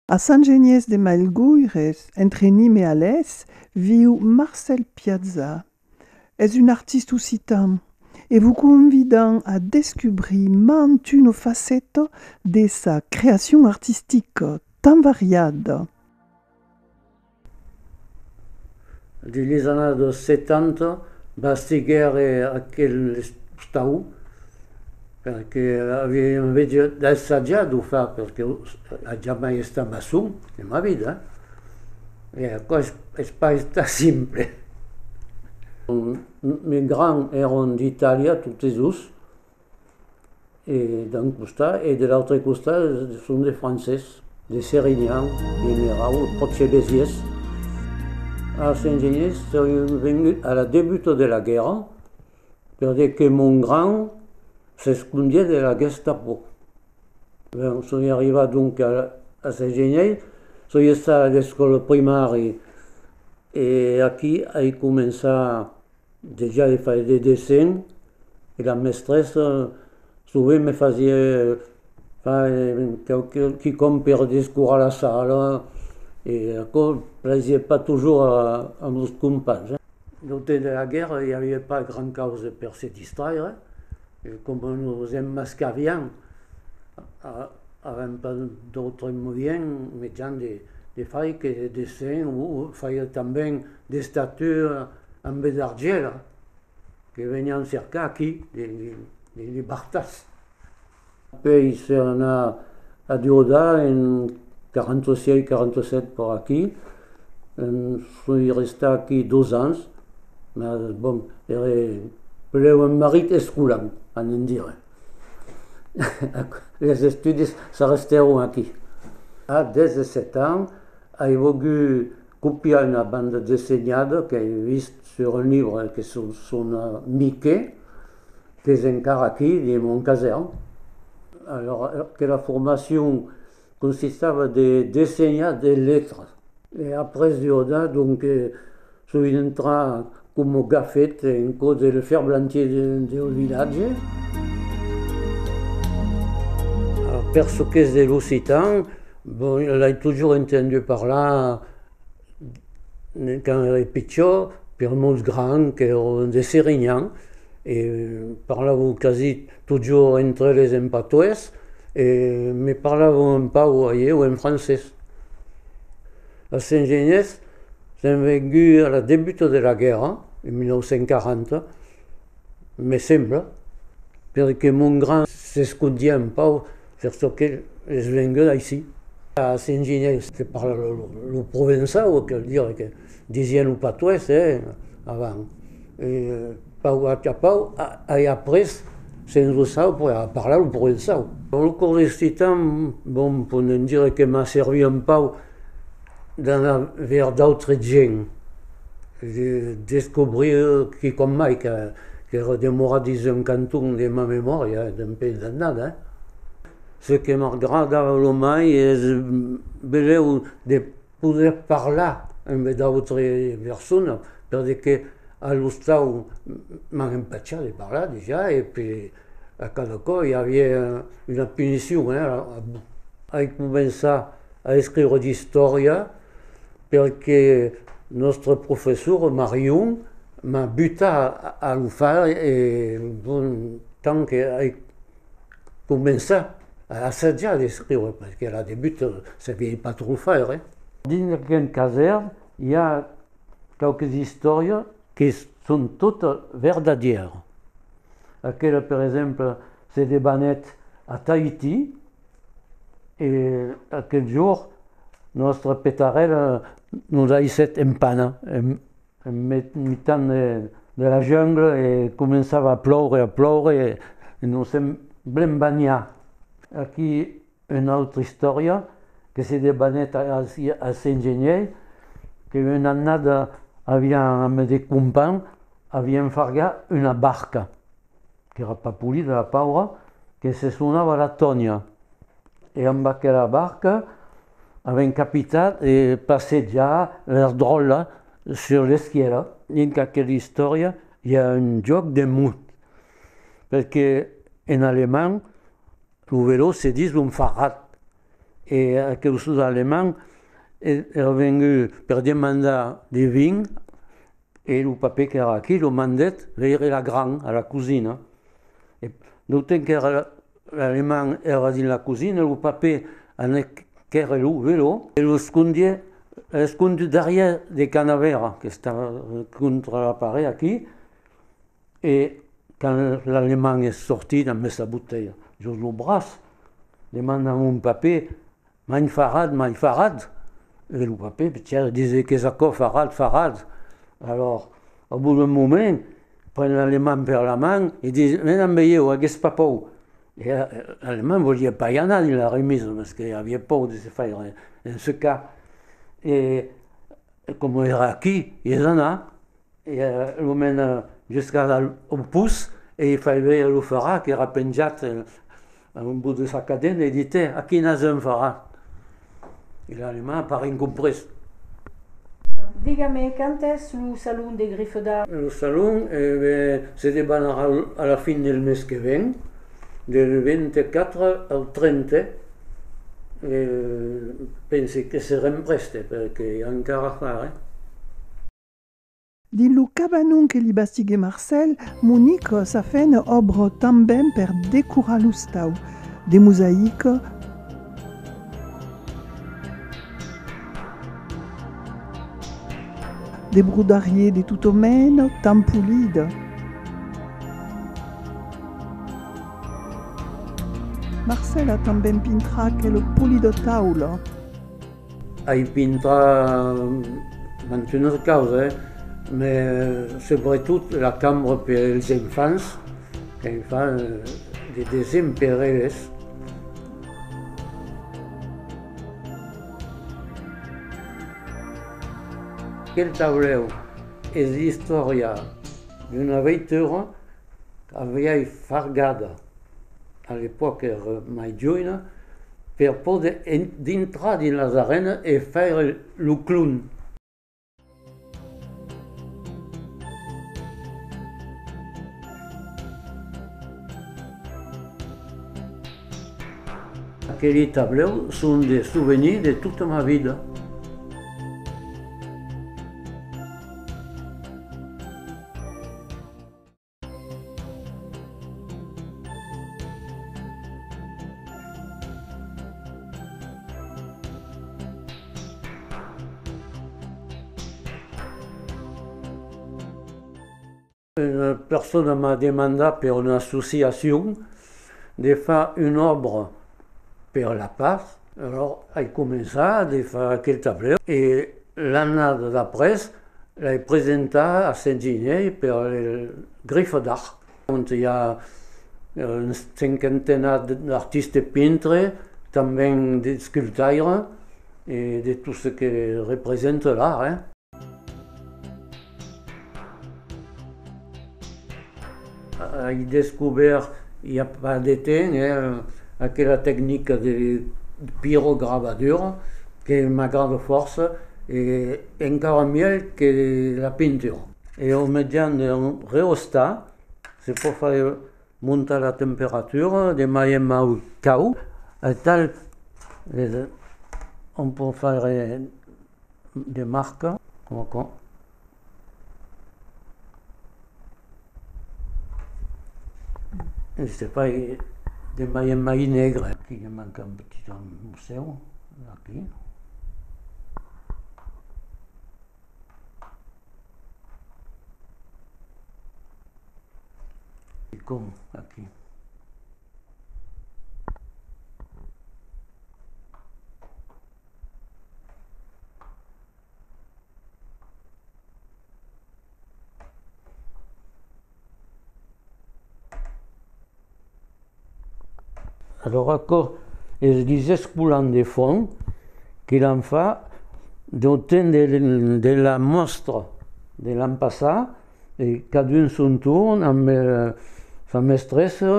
A Sant Geniés de Mailgoires, entre Nîmes e Alés, viu Marcèl Piazza. Es un artista occitan e vos convidam a descubrir mand una faceta de sa creacion artistica tan variada. Dins las annadas dos 70 bastiguèr aquel estau perque avián assajat de far, perque eu ai jamai estat maçon en ma vida e aquò es pas estat simple. Mes grands èran d'Itàlia totes dos e d'un costat e de l'autre costat son de francés de Serinyàn generau pròche Besiès als engenhers son vengut a la debuta de la guèrra per dire que mon gran s'escondièt de la Gestapo son arrivat donc als engenhers son estat a l'escòla primària e aquí ai començat Dejà i fai de dessin e la mestressa sovent me fasie fai quicòm per descurar la sala e aquò plaisie pas tojur a nos companhs. Lo temps de la guèrra i aviá pas grand causa per se distraire e coma nos emmascarián avèm pas d'autre moien, mejan, de fai que de dessin o faiá tanben d'estatura amb de l'argèla que venián cercar aquí de libertats. Pèi se anar a Diodar en 46-47 per aquí, soi restat aquí dos ans, mas bon, ère pleu un marit escolant, a ne'n dire. Les estudis s'arrestèron aquí. A 17 ans ai vogut Copiar una banda dessenhada qu'ai vist sur un libre que se sona Mickey, qu'es encara aquí dins mon casèrn. Alora, aquela formacion consistava de dessenhar de letras e après jornar, donc, sovint entrar Coma qu'a fet en còs del ferblantier deu vilatge. Per çò qu'es de l'occitan, bon, l'ai totjorn entendu parlar quand èra pichó per mos grands qu'èron de Serinyans e parlavon quasi totjorn entre eles en patoès e me parlavon un pauc o ailhèu en francés. Als Sengienhés Sèm venguts a la debuta de la guèrra, en 1940, me sembla, perque mon gran s'escondiá un pauc per çò que es vengut aicí. A Saint-Ginieu se parla lo provençau, que'l dire que disián lo patois, eh, avant. Pau Atapau ai après se'n lo sau per a parlar lo provençau. Dans lo cors d'esti temps, bon, podem dire que m'a servit un pau d'anar vers d'autres gents, de descobrir quicòm mai qu'èra demorat dins un canton de ma memòria e d'un país d'annada. Ce que m'agradava lo mai es benlèu de poder parlar amb d'autre persona, perque que a l'ostau m'an empachat de parlar dejà e pe a cada cò i aviá una punicion. Ai començat a escriure d'istòria perque nòstre professor Marion m'a butat a lo far e bon, tant qu'ai Començar a assajar d'escriure, perque la debut sabiei pas trop faire. Dins aquel casèr i a quauques istòrias que son tota verdadièra. Aquela per exemple se debanèt a Tahiti e aquel jorn nòstra petarèla nos aissèt empana. en mitan de la jungla e començava a ploure, a ploure e nos èm blen banhats. Aquí una autra istòria que se debanèt a Saint-Genièr, que una annada avián, amb de companh, avián fargat una barca. qu'èra pas polida la paura, que se sonava la Tònia e amb aquela barca avèm capitat de passejar las dròllas sus l'esquièra. Dins aquela istòria i a un jòc de mot, perque en alemand lo velò se ditz un Fahrrad e aquel sus alemand èra vengut per demandar de vin. E lo papè qu'èra aquí lo mandèt veire la gran a la cosina. E d'autant qu'èra l'aleman èra dins la cosina, lo papè anèc quèrre lo velò e lo escondiè, escondut darrièr de canavèra qu'estava contra la paret aquí, e quand l'aleman es sortit ambe sa botelha jos lo braç, demanda a mon papè, Mai farad, mai farad! E lo papè Pichèr dise qu'es aquò, farad, farad! Alòrs, au bout d'un moment, pren l'Alemand per la man e dise, Ven amb ieu, aguest papau! E l'Alemand voliá pas i anar dins la remisa, mès que aviá paur de se faire ensecar. E coma èra aquí, i es anat, e lo mena juscas au pus e i fai veire lo farad qu'èra penjat A un bot de sa cadena e ditè, A quina se'n farà? E l'animau a parent comprés. Diga-me quand es lo salon de Grifoda? Lo salon, e ben, se debanarà a la fin del mes que ven, del 24 au 30, e pense que serem prèste perque i a encara a far, eh? Dins lo cabanon que li bastiguèt Marcèl, Monique s'a fent òbra tanben per decorar l'ostau, de mosaica, de brodarier de tota mena, tan polida, Marcèl a tanben pintrat quel polidòtaula. Ai pintat mantun una causa, me subretot la cambra per es enfants, que me fa de desèn per eles. Aquel taulèu es l'istòria d'una veitura. Aviái fargada, a l'epòca era mai joina, per poder dintrar dins las arenas e faire lo clown. Aqueli tablèu son de souvenirs de tota ma vida. Una persona m'a demandat per una associacion de far una òbra per la patz, alòs ai començat de far aquel tablèu e l'annada d'après L'ai presentat a Saint-Ginièr per le Griffe d'Art, ont i a una cinquantena d'artistes pintres, tanben de sculptaires e de tot ce que represente l'art. Ai descobèrt i a pas de temps aquela tecnica de pirograbadura que m'agrada fòrça e encara mièlh que la pintura. E au mejans d'un reostat se pòt faire montar la temperatura de mai en mai cau aital on pòt faire de marca coma aquò. Este país de mai en mai negre. Aquí ne manca un petit en museu. Aquí. I com aquí. Alors aquò es guisès colant de fond que l'an fa dau temps de, de la mòstra de l'an passat, e cadun son torn amb sa mestressa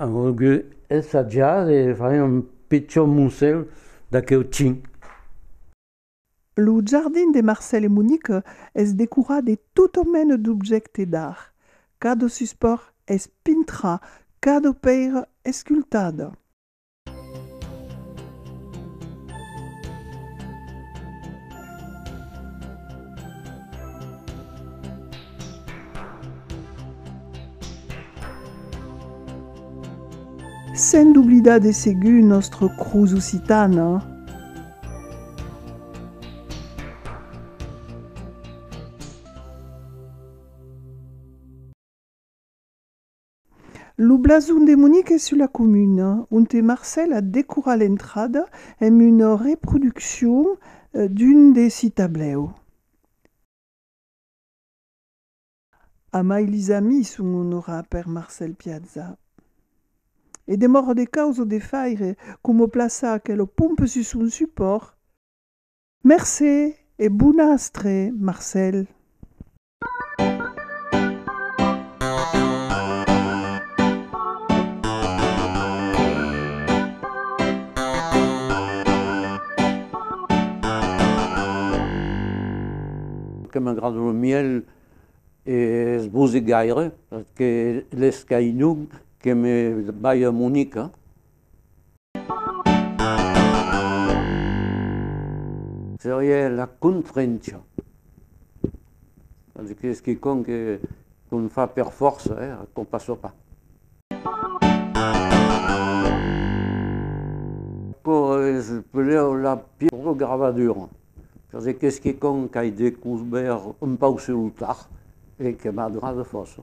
an volgut ensatjar de far un pichon musèu d'aqueu ting. Lo jardin de Marcel e Monique es decorat de tota mena d'objècte d'art, cada suspòrt es pintra, cada pèira escultada. Sens doblidar de segur nòstra cruz occitana. Lo blason de Monic es sus la comuna, onte Marcel a decorat l'entrada emb una reproduccion d'un de si tablèu. Amai lis amis son onorat per Marcel Piazza. E de mòrro de caus o de faire, como plaça aquelo pompe sus son supòrt. Mercé e bon astre, Marcel. que m'agrada lo mièl e es bosic gaire perque l'es qu'ainun que me balha a Monica. Seriá la confrencha. Vòl dire qu'es quicòm que qu'on fa per fòrça e qu'on passa pas. Quò es peleu la pièga gravadura. Çò se qu'es que quand qu'ai descubèrt un pauc sur lo tard e que m'a donat fòrça.